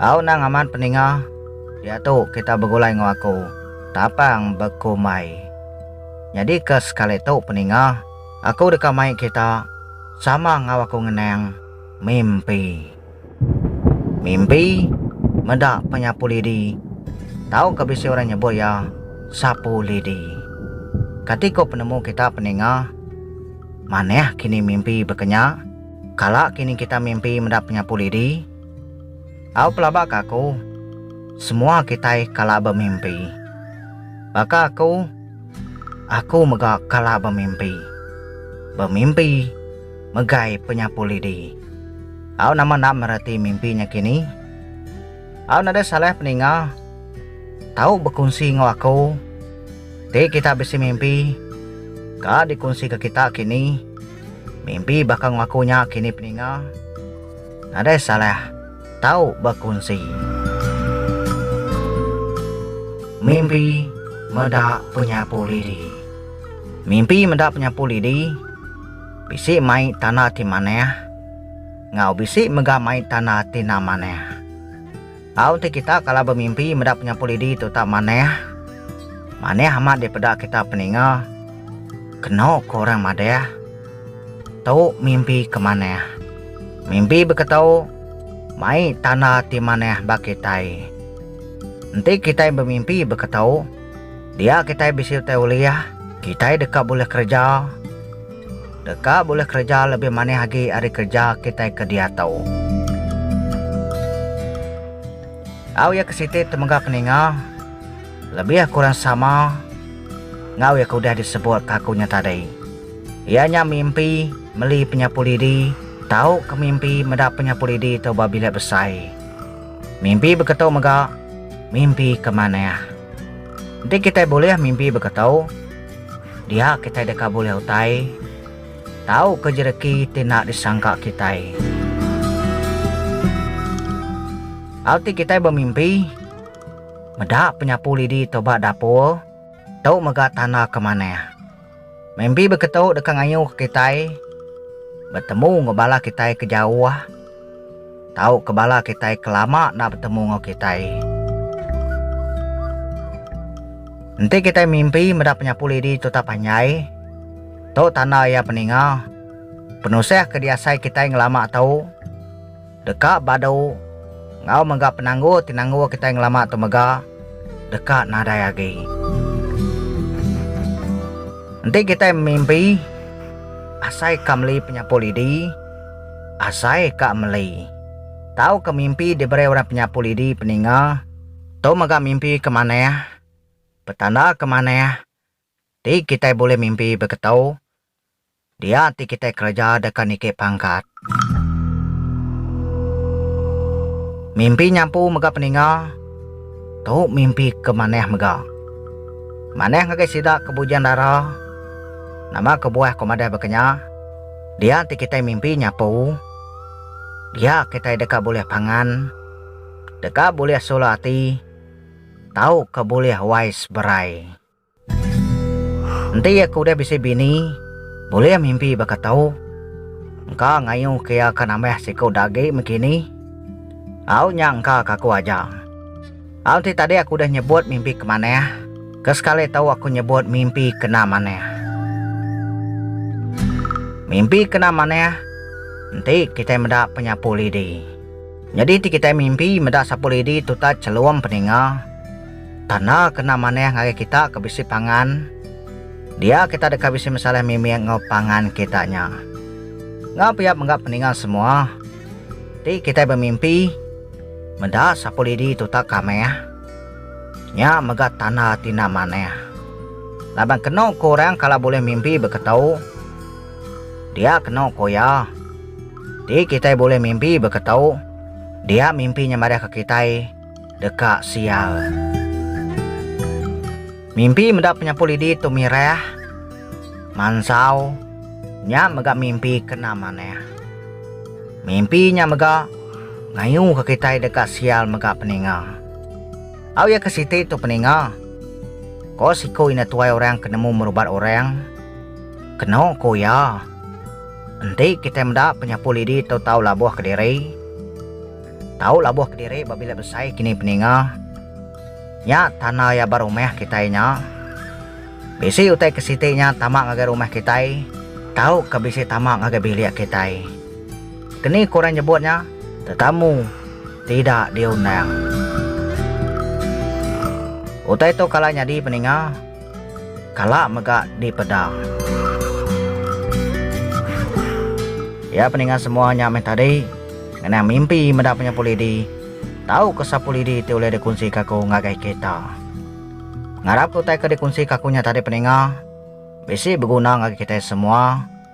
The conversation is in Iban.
Au nang amat peninga, diatu kita begulai enggau aku, tapang bekumbai. Nyadi ke sekali tu peninga, aku deka mai kita sama enggau aku ngenang mimpi. Mimpi meda penyapu lidi. Tauka bisi orang nyebut iya sapu lidi. Kati ko penemu kita peninga? Manah kini mimpi bekenya? Kala kini kita mimpi meda penyapu lidi? Au pelaba ka aku, semua kitai kala bemimpi. Baka aku, aku mega kala bemimpi. Bemimpi. megai penyapu lidi. Au nama enda mereti mimpi nya kini? Au nadai salah peninga tau bekunsi enggau aku ti kita bisi mimpi ka dikunsika kita kini. Mimpi baka enggau aku nya kini peninga nadai salah tau bekunsi. Mimpi meda penyapu lidi. Mimpi meda penyapu lidi. Bisi mai tanah ti manah enggau bisi mega mai tanah ti enda manah. Tau enti kita kala bemimpi meda penyapu lidi tu tak manah, manah amat dipeda kita peninga kena ku orang madah tu mimpi ke manah. Mimpi beketu mai tanah ti manah ba kitai. Enti kitai bemimpi beketu, Dia kitai bisi utai ulih, kitai deka bulih kereja deka bulih kereja lebih manih agi ari kereja kitai ke diatu. Au iya ke siti temuga ke ninga lebih kurang sama enggau iya ke udah disebut ke aku nya tadi iya nya mimpi meli penyapu lidi tauka mimpi meda penyapu lidi tu ba bilik besai. Mimpi beketu mega mimpi ke manah. Enti kitai bulih mimpi beketu, dia kitai deka bulih utai tauka jereki ti enda disangka kitai. Hal ti kitai bemimpi, meda penyapu lidi tu ba dapur, tu mega tanda ke manah. Mimpi beketu deka ngayuhka kitai betemu enggau bala kitai ke jauh tauka bala kitai ke lama enda betemu enggau kitai. Enti kitai mimpi meda penyapu lidi tutap panjai, tu tanda iya peninga penusah ke diasai kitai ngelama tu. Deka badu enggau mega penanggul ti nanggul kitai ngelama tu mega deka nadai agi. Enti kitai memimpi, asai ka meli penyapu lidi, asai ka meli. Tauka mimpi diberi orang penyapu lidi peninga, tu mega mimpi ke manah, petanda ke manah ti kitai bulih mimpi beketu Dia ti kitai kereja deka niki pangkat. Mimpi nyampu mega peninga, tu mimpi ke manah mega. Manah ngagai sida ke bujang dara, nama kebuah ko madah baka nya, dia ti kitai mimpi nyapu, dia kitai deka bulih pangan, deka bulih sula ati, tauka bulih wai seberai. Enti iya ke udah bisi bini bulih mimpi baka tu. Engka ngayuh ke iya ke nambah siku da agi meh kini. Au nya engka ke aku aja. Au enti tadi aku udah nyebut mimpi ke manah, ke sekali tu aku nyebut mimpi kena manah. Mimpi kena manah enti kitai meda penyapu lidi. Nyadi enti kitai mimpi meda sapu lidi tu tak chelum peninga. Tanda kena manah ngagai kita ke bisi pangan, dia kita deka bisi mesaleh mimik enggau pangan kita nya. Enggau pia mega peninggal semua ti kitai bemimpi meda Sapulidi tutak kamah. Nya mega tanda ti enda manah. Laban kenu ku orang kala bulih mimpi beketu, dia kenu ku iya. Ti kitai bulih mimpi beketu, dia mimpi nya madahka kitai Deka sial. Mimpi meda penyapu lidi tu mirah. Mansau nya mega mimpi kena manah. Mimpi nya mega ngayuka kitai deka sial mega peninga. Au iya ke siti tu peninga. Ko siku indah tuai orang ke nemu merubat orang. Keno ku iya. Enti kitai meda penyapu lidi tu tau labuh kediri. Tau labuh kediri ba bilik besai kini peninga. Nya tanda iya ba rumah kitai nya. Bisi utai ke siti nya tama ngagai rumah kitai tauka bisi tama ngagai bilik kitai. Keni ke orang nyebut nya tetamu tida diundang. Utai tu kala nyadi peninga. Kala mega dipeda. Iya peninga semua nya meh tadi. Ngenang mimpi meda penyampu lidi. Tau ke sapu lidi ti ulih dikunsi ke aku ngagai kita. Ngarap ke utai ke dikunsi ke aku nya tadi peninga bisi beguna ngagai kitai semua.